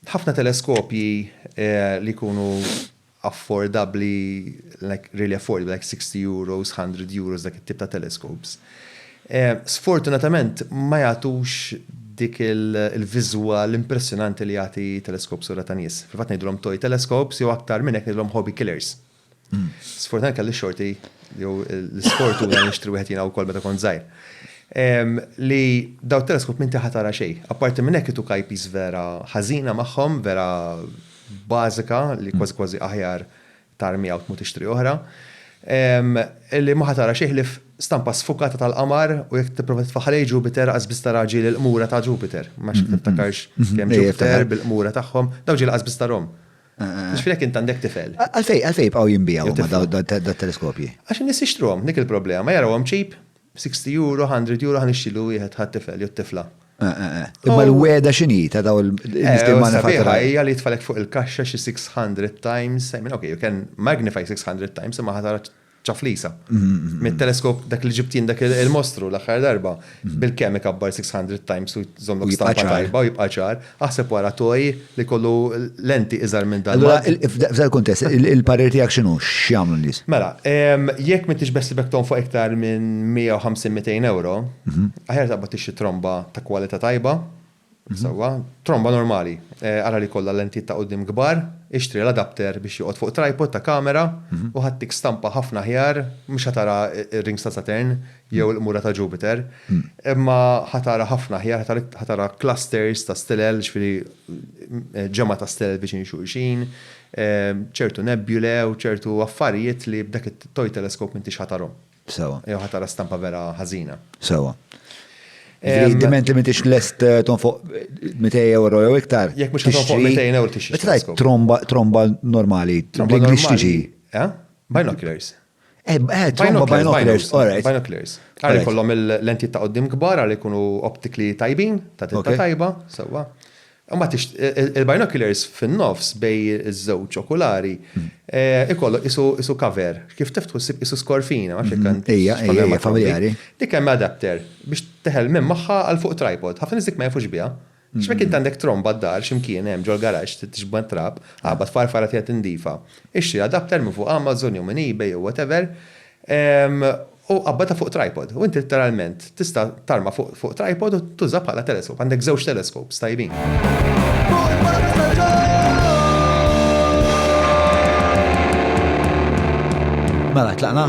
Ħafna teleskopji li jkunu affordabbli, like really affordable, like 60 euros, 100 euros dak it-tip ta' telescopes, sfortunatament ma jagħtux dik il-viżwal impressjonanti li jagħti teleskop sura ta' nies. Fil-fatt ngħidulhom toy telescopes jew aktar minn hekk ngħidulhom hobby killers. Sfortunatament kelli xorti jew l-isfortu li nixtri wieħed jiena wkoll meta kont żgħir. Li daw teleskop minn taħat tara xejn. Apparti minn hekk itu kajpis vera ħażina magħhom, vera bażika li kważi kważi aħjar tarmiha u tmur tixtri oħra. Li ma tara xejn ħlief stampa sfukata tal-qamar u jekk tipprova titfa' ħalejt Ġupiter lanqas biss tara ġieli l-qmura ta' Ġupiter. Ma nafx jekk tiftakarx kemm Ġupiter bil-qmura tagħhom, dawn ġieli lanqas biss tarhom. Mux finek int għandek tifel. Għalfej, għalfej bqaw jimbijaw da teleskopji. Għax nis jishtrom, dik il-problema, jaraw għam ċip, 60 euro, 100 euro, għan ixtilu wieħed ħat tifel, jott tifla. Eh, eh, eh. Imma l-weda xini ta' daw il-nistimana fatta. Ija li tfalek fuq il-kaxxa xi 600 times, I mean, okay, you can magnify 600 times, imma ħatara ċaflisa. Mit-teleskop dak li ġibt jien dak il-mostru l-aħħar darba bil-kemm ikabbar 600 times u jżommlok stampa tajba u jibqa' ċar, aħseb wara toj li kollu lenti iżgħar minn dan. Allura, f'dan il-kuntest, il-parir tiegħek x'inhu? X'jagħmlu n-nies? Mela, jekk m'intix beħsiebek tonfoq iktar minn 150-200 ewro, aħjar taqbad tixtri tromba ta' kwalità tajba, Sewwa, tromba normali. Ara li jkollha lentijiet ta' quddiem kbar, ixtri l-adapter biex joqgħod fuq tripod ta' kamera u ħattik stampa ħafna aħjar, mhux ħa tara r-rings ta' Saturn jew il-qmura ta' Jupiter, imma ħa tara ħafna aħjar, ħa tara clusters ta' stilel, jiġifieri ġemgħa ta' stilel viċin xulxin, ċertu nebulae u ċertu affarijiet li b'dak it-toy telescope m'intix ħa tarhom. Sewa. Jew ħa tara stampa vera ħażina. Sewa. Jiġifieri diment li m'intix lest eh, tonfoq 200 euro jew iktar. Jekk mhux tonfoq 200 euro tixtri. Meta tajt tromba tromba normali. Tromba normali. Tixtri. Eh? Binoculars. Eh, eh tromba binoculars. Binoculars. Għalli kollhom il-lentijiet ta' qoddim kbar, għalli jkunu optikli tajbin, ta' titta tajba, sewwa. Imbagħad il-binoculars fin-nofs bejn iż-żewġ okulari jkollok qisu cover, kif tiftħu ssib qisu skorfina, ma nafx jekk għandek. Ejja, ejja, ejja, familjari. Dik hemm adapter biex teħel l-mem magħha għal fuq tripod. Ħafna nies dik ma jafux biha. Għax jekk int għandek tromba d-dar xi mkien hemm ġol-garaxx trid tixbgħa t-trab, qabad farfar għad qiegħed indifa. Ixtri adapter minn fuq Amazon jew minn eBay jew whatever, U qabbadha fuq tripod. U int litteralment tista' tarma fuq tripod u tuża bħala teleskop. Għandek żewġ telescopes tajbin. Mela, tlaqna?